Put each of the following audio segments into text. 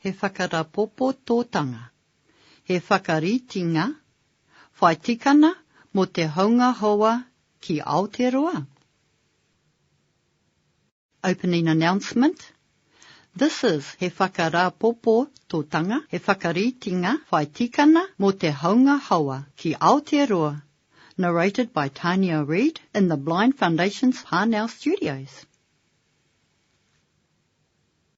He whakarapopototanga, he whakaritinga whai tikana mō te hounga hoa ki Aoteroa? Opening announcement This is He whakarapopototanga, he whakaritinga whai tikana mō te hounga hoa ki Aoteroa Narrated by Tania Reid in the Blind Foundation's Parnell Studios.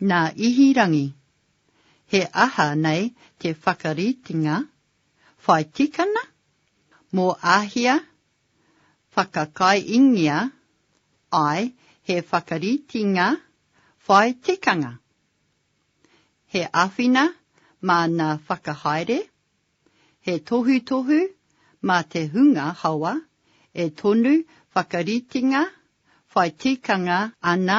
Nā Ihirangi. He aha nei te whakaritenga? Whai tikana? Mō Āhia? Whakakaiingia, āe, he whakaritenga whai tikanga. He āwhina māna whakahaere, he tohutohu mā te hunga hawa e tonu whakaritenga whai tikanga ana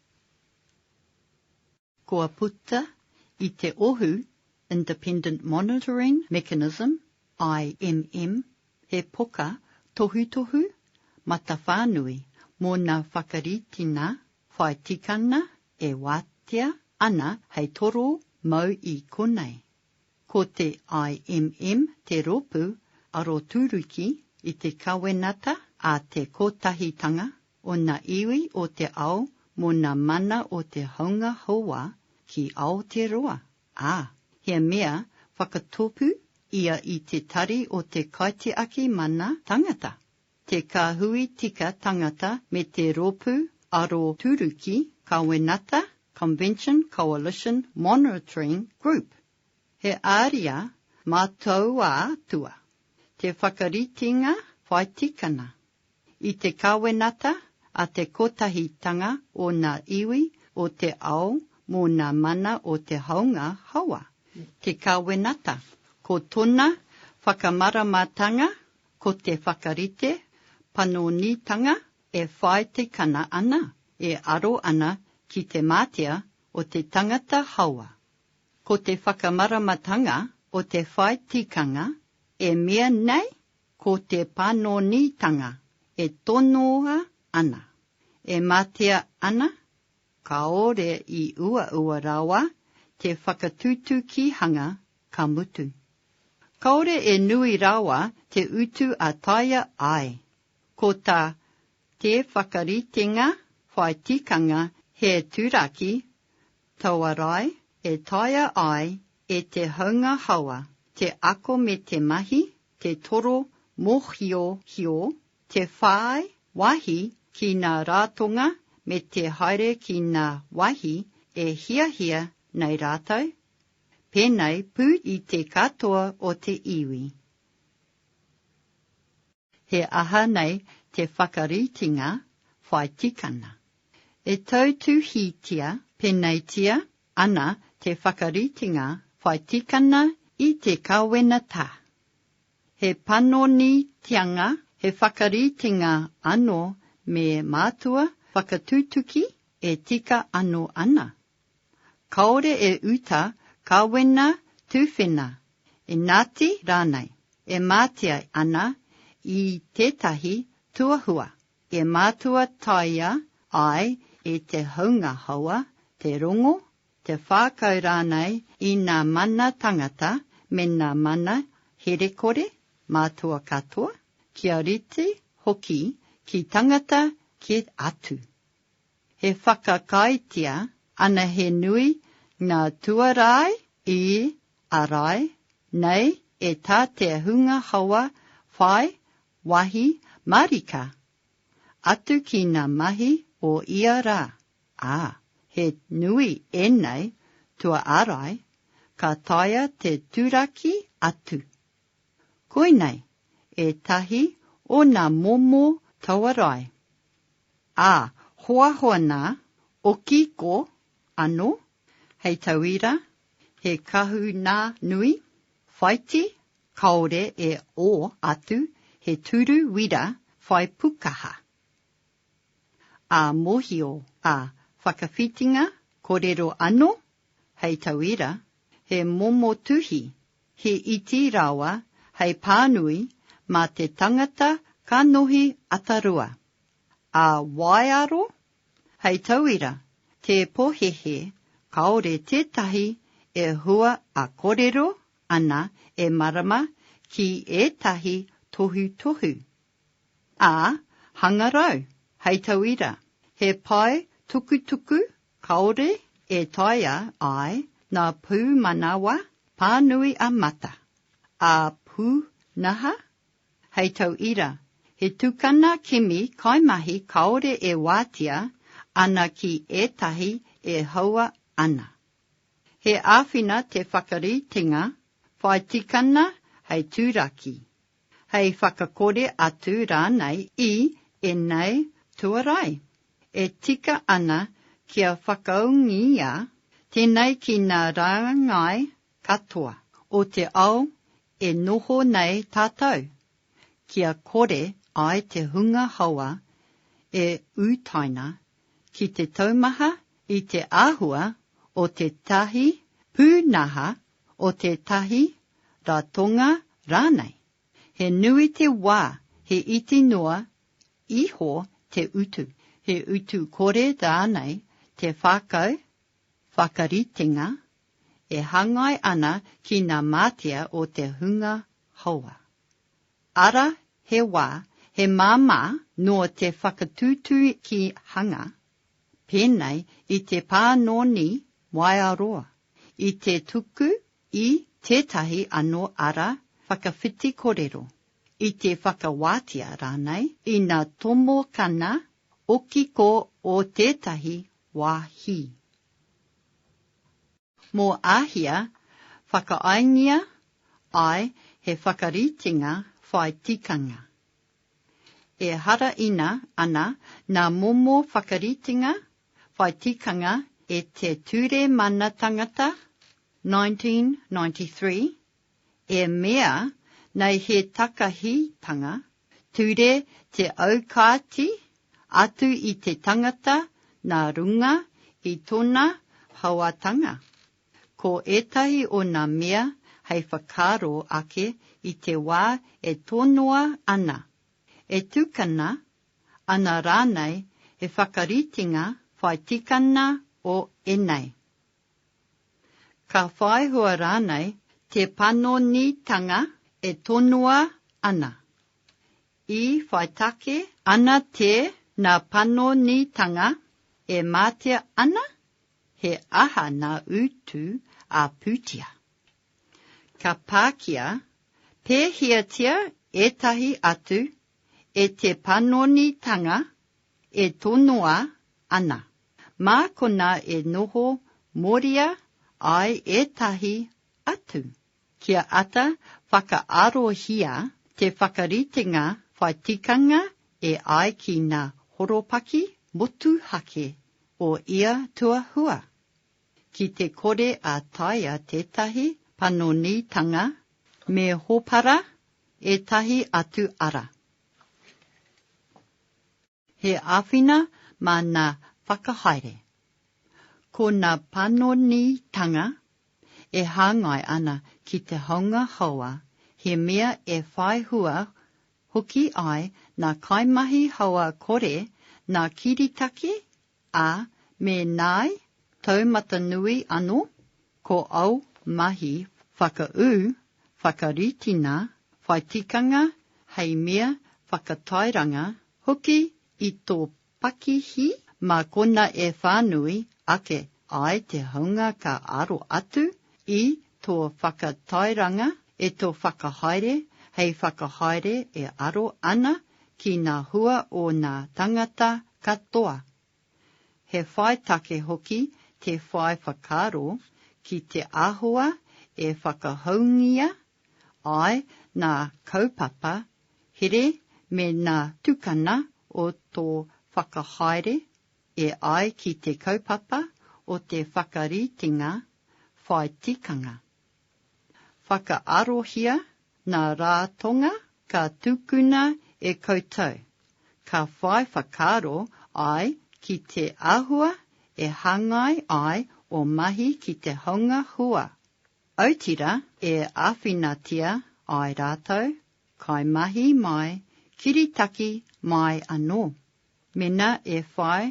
Kua puta i te Ohu, Independent Monitoring Mechanism, IMM, he poka tohutohu matawhānui mōna whakaritina whai tikanga e wātea ana hei toro mau i konei. Ko te IMM te rōpū aroturuki i te Kawenata a te Kotahitanga o na iwi o te ao mo na mana o te haunga hauā ki Aoteroa, a, he mea whakatopu ia i te tari o te kaitiaki mana tangata, te kahui tika tangata me te ropu aro turuki kawenata Convention Coalition Monitoring Group. He aria mātauātua te whakaritenga whaitikana, I te Kawenata a te Kotahitanga o Nga Iwi o te Ao mo Nga Mana o te Haunga Hawa, te Kawenata, ko tona whakamaramatanga ko te whakarite panonitanga e whaetikana ana, e aro ana ki te matea o te tangata hawa. Ko te whakamaramatanga o te whai tikanga e mea nei Ko te panonitanga e tonoa ana, e matea ana, kāore i uaua rawa te whakatutukihanga ka mutu. Kāore e nui rawa te utu a taea ai, ko tā te whakaritenga whai tikanga he turaki tauarae e taea ai e te haunga hawa te ako me te mahi te toro mōhiohio, te whāi wāhi ki ngā rātonga me te haere ki ngā wāhi e hiahia nei rātou, pēnei pū i te katoa o te iwi. He aha nei te whakaritenga whai tikanga? E tautuhītia pēneitia Ana te whakaritenga whai tikana i te kawenata. He panoni tianga, he whakaritenga ano me mātua whakatutuki e tika ano ana. Kaore e uta kawena tuwhena, enati ranei, e matea ana i tetahi tuahua, E mātua taea ai e te haunga hawa, te rongo, te whākau rānei i nā mana tangata me nā mana herekore mātua katoa, kia rite hoki ki tangata kē atu. He whakakāetia ana he nui ngā tuarai i ārai nei e tā te hunga hawa whai Wāhi mārika atu ki ngā mahi o ia rā, ā, he nui ēnei tua ārai, ka taea te turaki atu. Koinei ētahi o ngā momo tauarae, ā, hoahoa nā Okiko anō, hei tauira, he kahu nā nui, Whaiti, kaore e o atu he turu wira whai pukaha. A mohio, a whakawhitinga korero ano, hei tauira, he momo tuhi, he iti rawa hei panui ma te tangata ka nohi atarua. A waearo, Hei tauira, tē pohehe, kāore tētahi e hua a korero ana e marama ki ētahi tohutohu. A, hangarau, hei tauira, he pae tukutuku kāore e taea ai nā pūmanawa pānui a mata, a pūnaha Hei tau ira, he tukana kimi kaimahi kāore e wātea ana ki ētahi e haua ana. He āwhina te whakaritenga whai tikana hei turaki, hei whakakore atu rānei i ēnei tuarai e tika ana kia whakaūngia, tēnei ki ngā rāngai Katoa o te ao e noho nei tātou, kia kore ai te hunga hawa e utaina ki te taumaha i te āhua o tētahi pūnaha, o tētahi ratonga rānei. He nui te wā, he iti noa iho te utu, he utu kore rānei te whākau Whakaritenga, e hangai ana ki na matea o te hunga haoa. Ara he wa, he mama no te whakatutukihanga, penei i te panoni waea roa, i te tuku i tetahi ano ara whakawhiti korero, i te whakawatia ranei, ina tomokana okiko o tetahi wāhi. Mō Āhia, whakaaengia ai he whakaritenga whai tikanga. Ehara ina ana nā momo whakaritenga whai tikanga e te Ture Mana Tangata, 1993, e mea nei he takahitanga ture te aukati atu i te tangata na runga i tona hauatanga. Ko etahi o na mea hei whakaaro ake i te wa e tonoa ana, e tukana ana ranei he whakaritenga whai tikanga o enei. Ka whai hua rānei te panonitanga e tonoa ana? I whai take ana tēnā panonitanga e mātea ana? He aha nā utu a Pūtea? Ka pākia pēhiatia ētahi atu e te panonitanga e tonoa ana? Mā konā e noho moria ai ētahi atu. Kia ata whakaarohia te whakaritenga whai tikanga e ai ki ngā horopaki motuhake o ia tuahua, ki te kore a taea tētahi panonitanga me hopara ētahi atu ara. He āwhina mā nā whakahaere. Ko nā panonitanga e hāngai ana ki te haunga haoa, he mea e whai hua hoki ai nā kaimahi haoa kore nā kiritaki A, me nāi taumata nui ano ko au mahi whakaū, whakaritina, whai tikanga hei mea whakatairanga hoki i tō pakihi mā kona e whānui ake ai te haunga ka aro atu i Tō whakatairanga e tō whakahaere hei whakahaere e aro ana ki ngā hua o ngā tangata katoa. He whai take hoki te whai whakaaro ki te āhua e whakahoungia ai ngā kaupapa here me ngā tukanga o tō whakahaere, e ai ki te kaupapa o te whakaritenga whai tikanga. Whakaarohia nā Rātonga ka tukuna e koutou, ka whai whakaaro ai ki te āhua e hāngai ai ō mahi ki te honga hua, autira e āwhinatia ai rātou, kaimahi mai, kiritaki mai anō. Mena e whai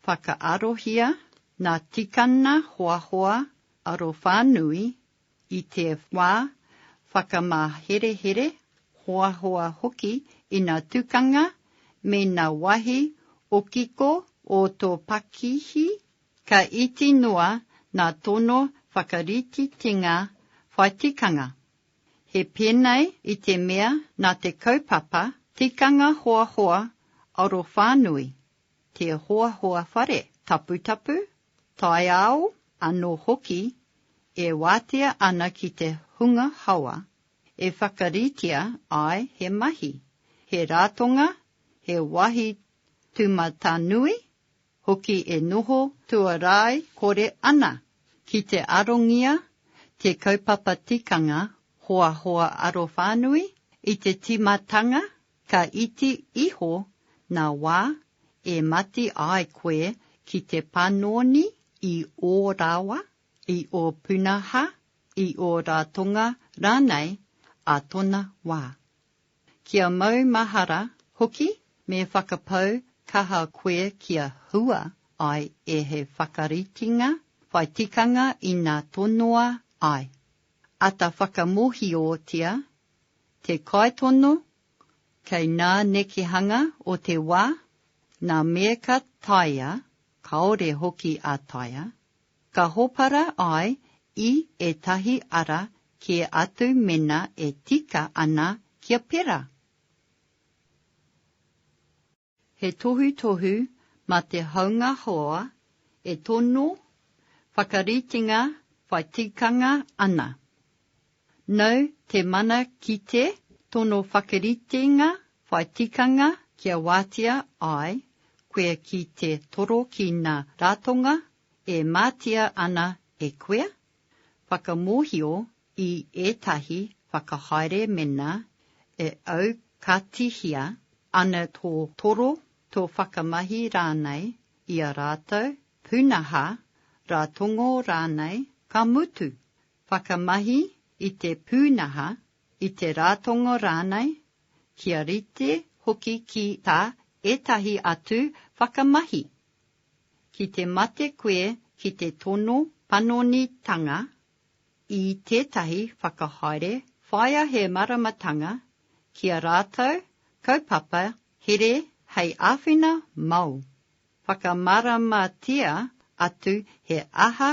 whakaarohia nga tikanga hoahoa arowhanui i te wa whakamaherehere, hoahoa hoki i na tukanga me na wahi okiko o to pakihi, ka iti noa nga tono whakaritetinga whai tikanga, He pēnei i te mea nā te kaupapa Tikanga Hoahoa Arowhānui, te hoahoa whare taputapu, taiao anō hoki e wātea ana ki te hunga hawa, e whakaritea ai he mahi, he rātonga, he wāhi tūmatanui, hoki e noho tuarai kore ana ki te arongia te kaupapa tikanga hoahoa arowhānui i te tīmatanga ka iti iho nā wā e mati ai koe ki te panoni i ō rawa, i ō punaha, i ō rātonga rānei ā tona wā. Kia maumahara hoki me whakapau kaha koe kia hua ai e he whakaritenga whai tikanga ina tonoa ai. Ata whakamōhiotia te kaitono kei nā nekehanga o te wā, nā me ka taea, kāore hoki a taea, Ka hopara ai i ētahi ara kē atu mena e tika ana kia pera. He tohutohu mā te haunga hoa e tono whakaritenga whai tikanga ana. No te mana kite tono whakaritenga whai tikanga kia wātea ai koe ki te toro ki ngā ratonga E matea ana e koea? Whakamohio i etahi whakahaere mena e au ka tihia ana to toro, to whakamahi ranei i a ratou punaha, ratongo ranei, ka mutu, whakamahi i te punaha, i te ratongo ranei, kia rite hoki ki ta etahi atu whakamahi, Ki te mate koe ki te tono panonitanga i tētahi whakahaere whāia he māramatanga ki a rātou kaupapa here hei āwhina māu. Whakamāramatia atu he aha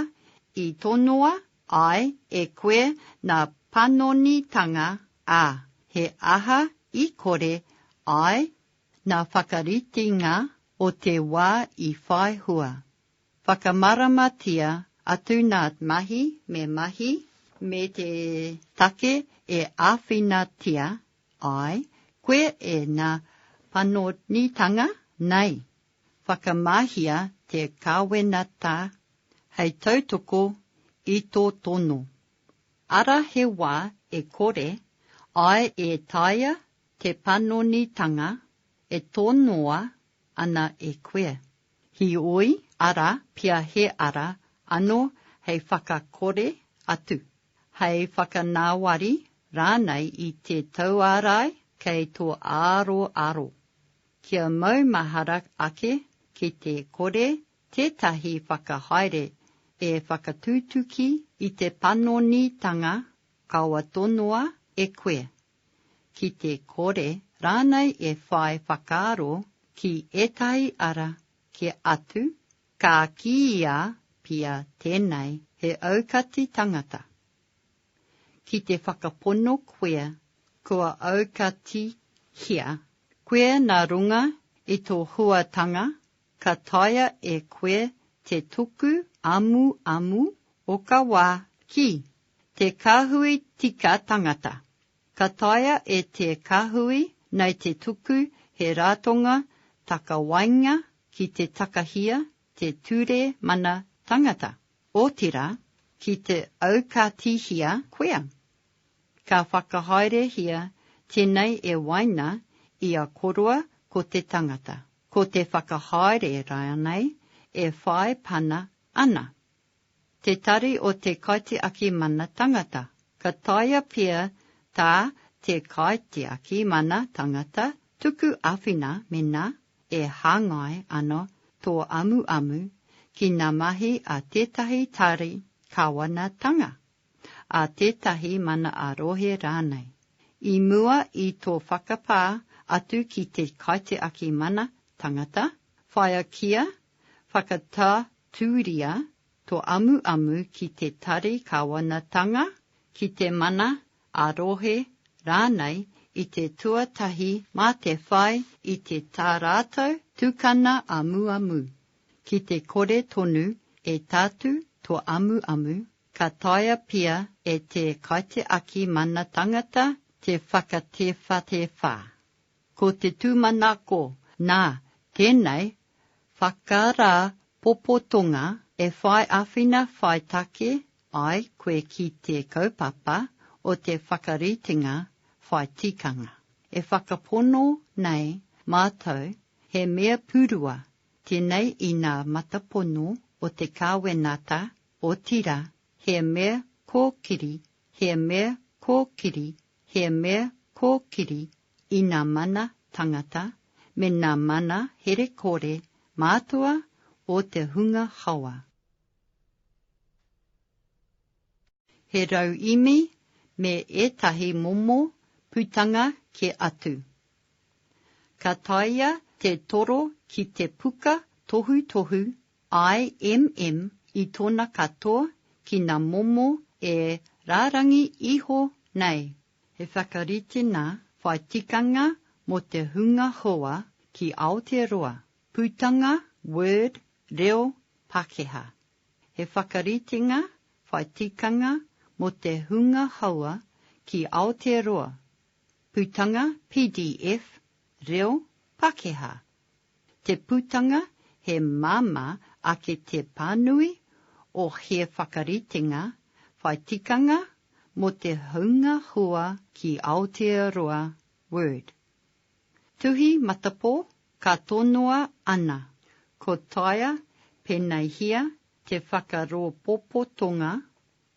i tonoa ai e koe nā panonitanga, ā, he aha i kore ai Nā whakaritenga o te wā i whai hua, whakamaramatia atu nā te mahi me mahi me te take e āwhinatia ai koe e ngā panonitanga nei. Whakamahia te Kawenata hei tautoko i tō tono. Ara he wā e kore ai e taea Te panonitanga e tonoa ana e koe. Heoi ara pea he ara ano hei whakakore atu, hei whakanawari ranei i te tauarae kei to aroaro. Kia maumahara ake ki te kore tetahi whakahaere e whakatutuki i te panonitanga kawa tonoa e koe. ki te kore rānei e whai whakaaro ki ētahi ara kē atu, ka kīia pea tēnei he aukati tangata. Ki te whakapono koe kua aukatihia koe nā runga i tō huatanga, ka taea e koe te tuku amuamu o ka wā ki Te Kāhui Tika Tangata Ka taea e te Kāhui nei te tuku he rātonga takawainga ki te takahia te Ture Mana Tangata, otirā, ki te aukatīhia koea. Ka whakahaerehia tēnei e waina i a koroa ko te tangata, ko te whakahaere rānei e whai pana ana. Te Tari o Te Kaitiaki Mana Tangata Ka taea pea tā Te Kaitiaki Mana Tangata tuku āwhina mēnā e hāngai ana tō amuamu ki ngā mahi a tētahi tari kāwanatanga, a tētahi mana-ā-rohe rānei. I mua i tō whakapā atu ki Te Kaitiaki Mana Tangata, whāia kia Whakatatūria to amuamu ki te tari kawanatanga, ki te mana, a-rohe rānei i te tuatahi mā te whai i te tā rātou tukana amuamu. Ki te kore tonu e tatū to amuamu, ka taea pia e te kaitiaki mana tangata te whakatewhatewha. Ko te tūmanako, nā, tēnei, whakarāpopotonga e whai āwhina whai take ai koe ki te kaupapa o te whakaritenga whai tikanga. E whakapono nei mātou he mea purua tēnei i nā matapono o te kāwenata, otirā, he mea kōkiri, he mea kōkiri, he mea kōkiri, i nā mana tangata me nā mana herekore mātua o te hunga hawa. He rauīmi me ētahi momo putanga kē atu. Ka taea te toro ki te puka tohutohu IMM i tōna katoa ki nā momo e rārangi iho nei He whakaritenga whai tikanga mō te hunga hoa ki Aotearoa, putanga Word reo Pakeha. He whakaritenga whai tikanga mō te hunga hoa ki Aotearoa, putanga pdf reo Pakeha Te putanga he māmā ake te pānui o he whakaritenga whai tikanga mō te hunga hua ki Aotearoa, Word. Tuhi matapō ka tonoa ana, ko taea pēneihia te whakarōpopotonga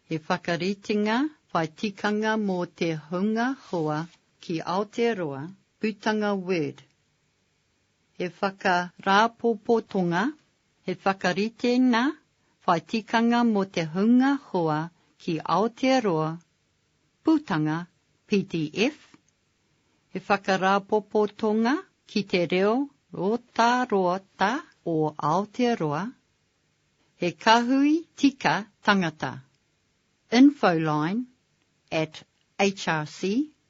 he whakaritenga whai tikanga mō te hunga hua ki Aotearoa, putanga Word, he whakarāpopotonga, he whakaritenga whai tikanga mō te hunga hoa ki Aotearoa, Putanga, pdf, he whakarāpopotonga ki te reo rotarota o Aotearoa, he kahui tika tangata, infoline at hrc